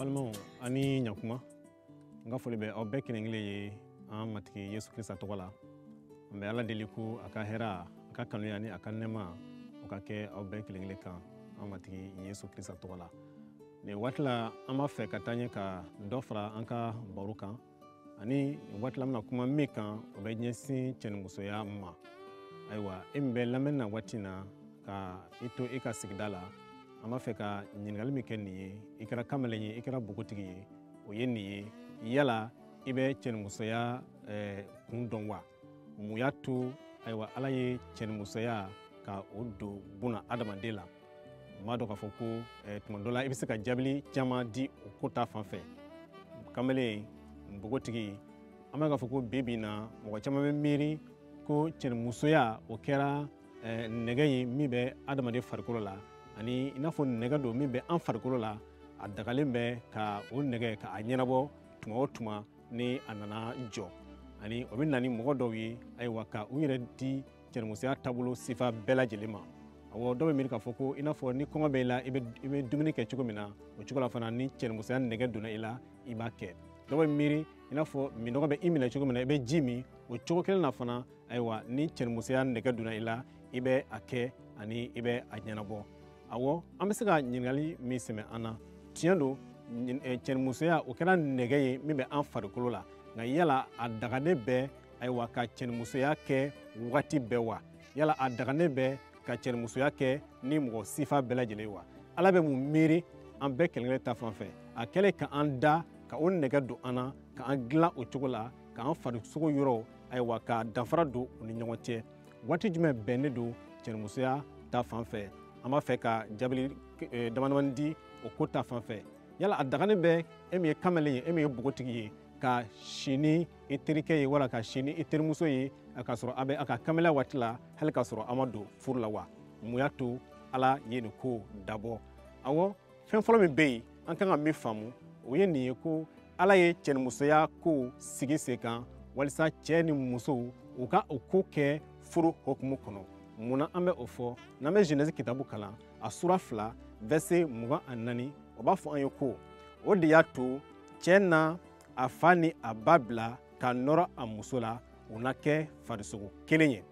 balimaw ani ɲakuma n ka foli bɛ aw bɛɛ kelen kelen ye an matigi yesu krista tɔgɔ la an bɛ ala deli ko a ka hɛra a ka kanuya ni a ka nɛɛma o ka kɛ aw bɛɛ kelen kelen kan an matigi yesu krista tɔgɔ la nin waati la an b'a fɛ ka taa ɲɛ ka dɔ fara an ka baro kan nin waati la an bɛna kuma min kan o bɛ ɲɛsin cɛnimusoya ma ayiwa e min bɛ lamɛnni na waati na ka i to i ka sigida la an b'a fɛ ka ɲininkali min kɛ nin ye i kɛra kamalen ye i kɛra bogotigi ye o ye nin ye yala i bɛ cɛnimusoya kun dɔn wa mun y'a to ayiwa ala ye cɛnimusoya ka o don buna adamaden la n b'a dɔn k'a fɔ ko eh, tuma dɔ la i bɛ se ka jaabili caman di o ko ta fan fɛ kamalen npogotigi an b'a k'a fɔ ko bi bi in na mɔgɔ caman bɛ miiri ko cɛnimusoya o kɛra eh, nɛgɛ ye min bɛ adamaden farikolo la ani i n'a fɔ nɛgɛ don min bɛ an farikolo la a dagalen bɛ ka o nɛgɛ ka a ɲɛnabɔ tuma o tuma ni a nana jɔ ani o bɛ na ni mɔgɔ dɔw ye ayiwa ka u yɛrɛ di cɛnimusoya taabolo sifa bɛɛ lajɛlen ma awɔ dɔw bɛ miiri k'a fɔ ko i n'a fɔ ni kɔngɔ bɛ i la i bɛ dumuni kɛ cogo min na o cogo la fana ni cɛnimusoya nɛgɛ donna i la i b'a kɛ dɔw bɛ miiri i n'a fɔ minnɔgɔ bɛ i minɛ cogo min na i bɛ ji min o cogo kelen na fana ayiwa ni cɛnimusoya nɛgɛ donna i la i bɛ a kɛ ani i bɛ a ɲɛnabɔ awɔ an bɛ se ka ɲininkali min sɛmɛ an na tiɲɛ don eh, cɛnimusoya o kɛra nɛgɛ ye min bɛ an farikolo la nka yala a daganen bɛ ayiwa ka cɛnimusoya kɛ wagati bɛɛ wa yala a daganen bɛ ka cɛnimusoya kɛ ni mɔgɔ sifa bɛɛ lajɛlen wa ala bɛ mun miiri an bɛɛ kelenkelen ta fan fɛ a kɛlen ka an da ka o nɛgɛ don an na ka an dilan o cogo la k'an farisogo yɔrɔw ayiwa ka danfara don u ni ɲɔgɔn cɛ waati jumɛn bɛnnen don cɛnimusoya ta fan fɛ an b'a fɛ ka jaabili eh, damadamani di o ko ta fan fɛ yala a daganen bɛ e min ye kamalen ye e min ye bogotigi ye ka si ni i terikɛ ye wala ka si ni i terimuso ye k'a sɔrɔ a bɛ a ka kamalenya waati la hali k'a sɔrɔ a ma don furu la wa mun y'a to ala ye nin ko dabɔ awɔ fɛn fɔlɔ min bɛ yen an kan ka min faamu o ye nin ye ko ala ye cɛnimusoya kow sigi sen kan walisa cɛɛ ni musow u ka o ko kɛ furu hokumu kɔnɔ mun na an bɛ o fɔ n'an bɛ jenɛsi kitabu kalan a sura fila vɛrse mugan ani naani o b'a fɔ an ye ko o de y'a to cɛɛ na a fa ni a ba bila ka nɔrɔ a muso la u na kɛ farisogo kelen ye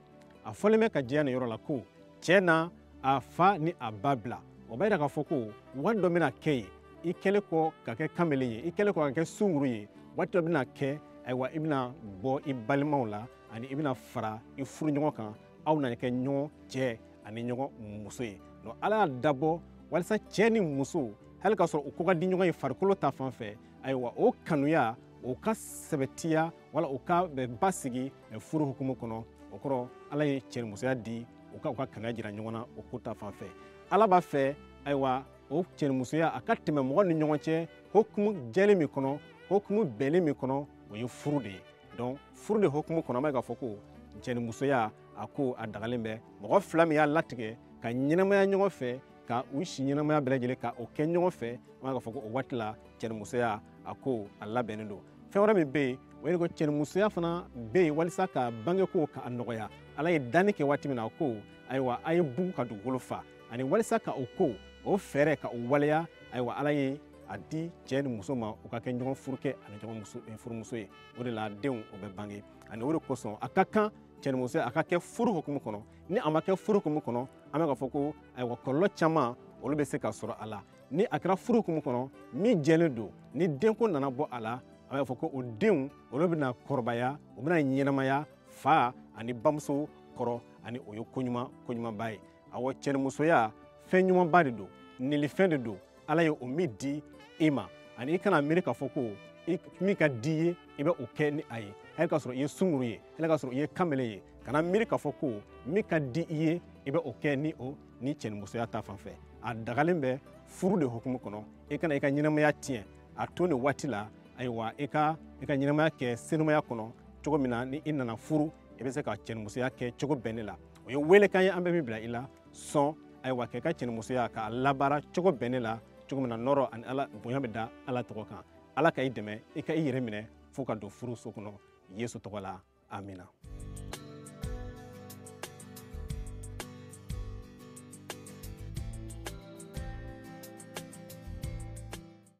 a fɔlen bɛ ka jɛya nin yɔrɔ la ko cɛɛ na a fa ni a ba bila o b'a yira k'a fɔ ko waati dɔ bɛna kɛ ye i kɛlen kɔ ka kɛ kamele ye i kɛlen kɔ ka kɛ sunguru ye waati dɔ bɛna kɛ ayiwa i bɛna bɔ i balimaw la ani i bɛna fara i furuɲɔgɔn kan aw na kɛ ɲɔgɔn cɛ ani ɲɔgɔn muso ye donc ala y'a dabɔ walisa cɛɛ ni muso hali k'a sɔrɔ u ko ka di ɲɔgɔn ye farikolo ta fan fɛ ayiwa o kanuya o ka sɛbɛtiya wala o ka basigi furu hukumu kɔnɔ o kɔrɔ ala ye cɛnimusoya di u ka u ka kanuya jira ɲɔgɔn na o ko ta fan fɛ ala b'a fɛ ayiwa o cɛnimusoya a ka tɛmɛ mɔgɔ ni ɲɔgɔn cɛ hokumu jɛlen min kɔnɔ hokumu bɛnnen min kɔnɔ o ye furu de ye donc furu de hokumu kɔnɔ an b'a ye k'a fɔ ko cɛnimusoya a ko a dagalen bɛ mɔgɔ fila min y'a latigɛ ka ɲɛnamaya ɲɔgɔn fɛ ka u si ɲɛnamaya bɛɛ lajɛlen ka o kɛ ɲɔgɔn fɛ an bɛ k'a fɔ ko o waati la cɛnimusoya a ko a labɛnnen don fɛn wɛrɛ min bɛ yen o ye ko cɛnimusoya fana bɛ yen walisa ka bangeko ka a nɔgɔya ala ye danni kɛ waati min na a ko ayiwa a ye bugu ka dugukolo fa ani walisa ka o ko o fɛɛrɛ ka o waleya ayiwa ala ye a di cɛɛ ni muso ma u ka kɛ ɲɔgɔn furukɛ ani ɲɔgɔn eh, furumuso ye o de la denw o bɛ bange ani o de kosɔn a ka kan cɛnimusoya a ka kɛ furu hukumu kɔnɔ ni a ma kɛ furu hukumu kɔnɔ an bɛ k'a fɔ ko ayiwa kɔlɔlɔ caman olu bɛ se ka sɔrɔ a la ni a kɛra furu hukumu kɔnɔ min jɛlen don ni denko nana bɔ a la an bɛ k'a fɔ ko o denw olu bɛna kɔrɔbaya u bɛna ɲɛnamaya fa ani bamuso kɔrɔ ani o ye koɲuman koɲumanba ye awa cɛnimusoya fɛn ɲumanba de don nilifɛn de don ala ye o min di i ma ani i kana miiri k'a fɔ ko min ka di i ye i bɛ o kɛ ni a ye hali k'a sɔrɔ i ye sunguru ye hali k'a sɔrɔ i ye kamele ye kana miiri k'a fɔ ko min ka di i ye i bɛ o kɛ ni o ni cɛnimusoya ta fan fɛ a dagalen bɛ furu de hukumu kɔnɔ i kana i ka ɲɛnamaya tiɲɛ a to nin waati la ayiwa i ka i ka ɲɛnamaya kɛ senumaya kɔnɔ cogo min na ni i nana furu i bɛ se ka cɛnimusoya kɛ cogo bɛnnen la o ye weelekan ye an bɛ min bila i la sɔn ayiwa k'i ka cɛnimusoya k'a labaara cogo bɛnnen la cogo min na nɔɔrɔ ani ala bonya bɛ da ala tɔgɔ kan ala ka i dɛmɛ i ka i yɛrɛ minɛ fo ka don furu so kɔnɔ yesu tɔgɔ la amina